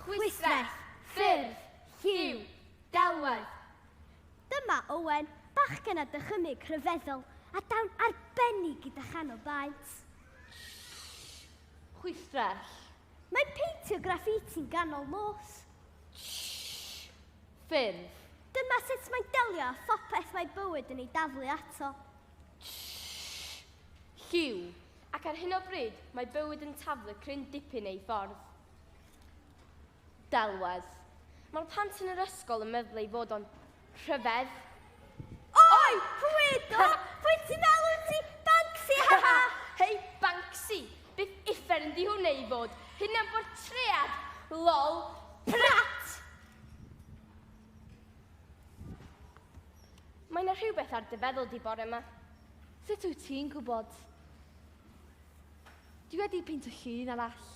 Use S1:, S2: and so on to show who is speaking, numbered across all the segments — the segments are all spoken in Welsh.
S1: Chwistrell, ffyrdd, lliw, delwedd.
S2: Dyma Owen, bachgen a dychymyg rhyfeddol a dawn arbennig gyda chanol baent.
S1: Chwistrell. Mae peintio
S2: graffiti'n ganol nos.
S1: Ffurf. Dyma sut
S2: mae'n delio â phopeth mae bywyd yn ei daflu ato.
S1: Lliw. Ac ar hyn o bryd, mae bywyd yn taflu cryn dipyn ei ffordd. Delwedd. Mae'r plant yn yr ysgol yn meddwl ei fod o'n rhyfedd.
S2: Oi! Pwy do? Pwy ti fel wyt ti? Banksy, ha ha! Hei,
S1: Banksy! Bydd uffern yn di hwn ei fod. Hyn am bod tread. Lol. Prat! Mae yna rhywbeth ar dy feddwl di bore yma. Sut wyt
S3: ti'n gwybod? Dwi wedi peintio llun arall.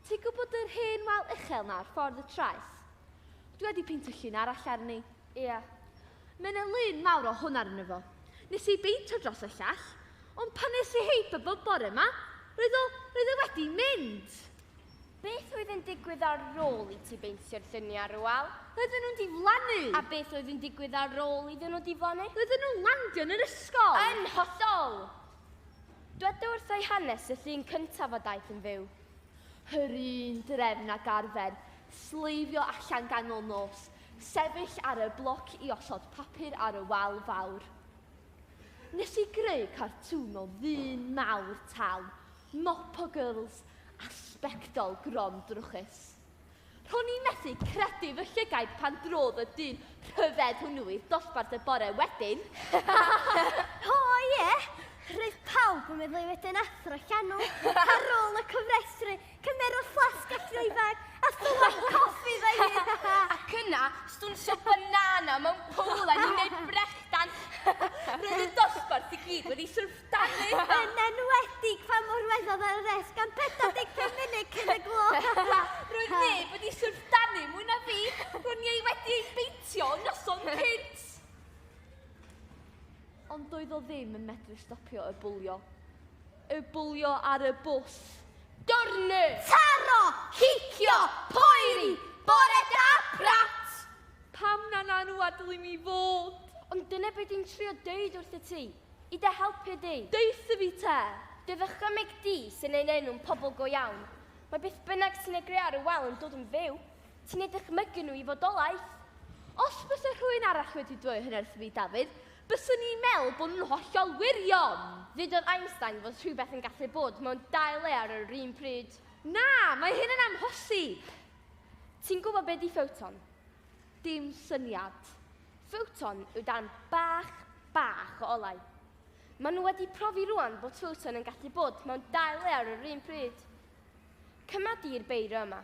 S3: Ti'n gwybod yr hen wal uchel na ar ffordd y traeth? Dwi wedi peintio llun arall arni. Ia.
S1: Mae yna
S3: lun mawr o hwn arno fo. Nes i beintio dros y llall, ond pan nes i heip y bwb bore ma, roedd o, roedd e wedi mynd! Beth
S1: oedd yn digwydd ar ôl i ti beintio'r lluniau ar y wal? Roedden nhw'n diflannu!
S3: A beth oedd yn
S1: digwydd ar ôl iddyn nhw diflannu? Roedden nhw'n landio yn
S3: yr ysgol! Yn hollol!
S1: Dyweda wrtha i hanes y llun cyntaf a daeth yn fyw. Yr
S3: un drefn ag arfer, sleifio allan ganol nos, sefyll ar y bloc i osod papur ar y wal fawr. Nes i greu cartŵn o ddyn mawr tal, mopo girls a sbectol grom drwchus. Ro'n i'n methu credu fy llygaid pan drodd y dyn rhyfedd hwnnw i'r dosbarth y bore wedyn.
S2: O ie! Roedd pawb yn meddwl ei fod yn athro llanw. Ar ôl y cofrestru, cymerodd fflasg a throedfag a thywall coffi fy hun. Ac yna,
S1: stwnsio banana mewn pool a ni'n neud brechdan. Roedd y dosbarth i gyd wedi syrffio. Dafydd yn enwedig
S2: pan mor weddol ar y res gan 45 munud cyn y gloch. Roedd
S1: neb wedi syrff danu mwy na fi, ro'n ni ei wedi ei beintio yn noson cynt.
S3: Ond doedd o ddim yn medru stopio y bwlio. Y bwlio ar y bws. Dornu!
S1: Taro!
S2: Cicio!
S1: Poeri! Bore da, brat! Pam na
S3: na nhw adlu mi fod? Ond dyna beth dwi'n
S1: trio deud wrth y ti. I dy helpu di. Deutha fi te!
S3: Dy ddychymyg
S1: di sy'n ein enw yn pobl go iawn. Mae beth bynnag sy'n ei greu ar y wal yn dod yn fyw. Ti'n eu dychmygu nhw i fodolaeth. Os byse
S3: rhywun arall wedi dweud hyn wrtho fi, Dafydd, byswn i'n meddwl bod nhw'n hollol wirion! Ddudodd Einstein
S1: fod rhywbeth yn gallu bod mewn dau le ar yr un pryd. Na, mae
S3: hyn yn amhosib! Ti'n
S1: gwybod be 'di ffoton? Dim
S3: syniad. Ffowton
S1: yw darn bach, bach o olau. Maen nhw wedi profi rwan bod ffowton yn gallu bod mewn dau le ar yr un pryd. Cyma di'r beiro yma.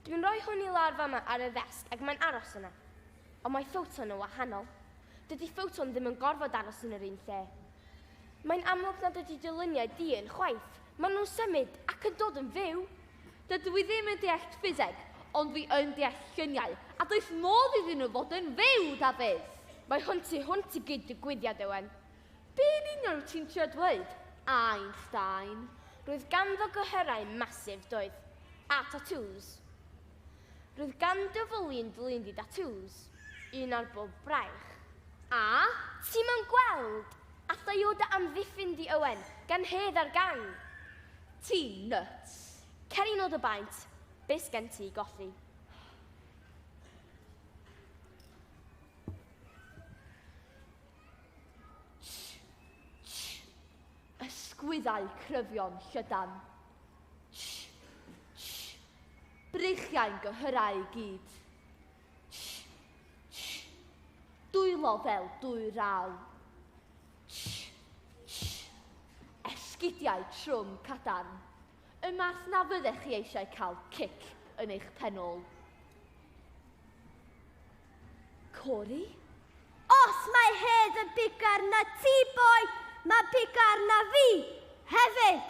S1: Dwi'n rhoi hwn i lawr fama ar y ddesg ac mae'n aros yna. Ond mae ffowton yn wahanol. Dydy ffowton ddim yn gorfod aros yn yr un lle. Mae'n amlwg nad ydy dyluniau dyn chwaith. Maen nhw'n symud ac yn dod yn fyw. Dydw i ddim
S3: yn deall ffiseg, ond dwi yn deall lluniau, a does modd iddyn nhw fod yn fyw, Dafydd! Mae hwn tu
S1: hwnt i gyd-ddigwyddiad, Ewen. Be yn union
S3: wyt ti'n trio dweud, Einstein? Roedd
S1: ganddo gyhyrau massive, doedd. A tatŵs. Roedd ganddo fwlyn dlindi tatŵs, un ar bob braich. A,
S3: ti'm yn
S1: gweld? A thaio dy amddiffyn di Owen, gan hedd ar gang! Ti
S3: nyts! Cer i nod y
S1: baent, be sgen ti i golli?
S3: Ysgwyddau cryfion llydan. Breichiau'n gyhyrau i gyd. Dwylo fel dwyraw. Esgidiau trwm cadarn. Y math na fyddech chi eisiau cael cic yn eich penol. Cori?
S2: Os mae Hedd yn bigar na ti, boi, mae bigar na fi, hefyd.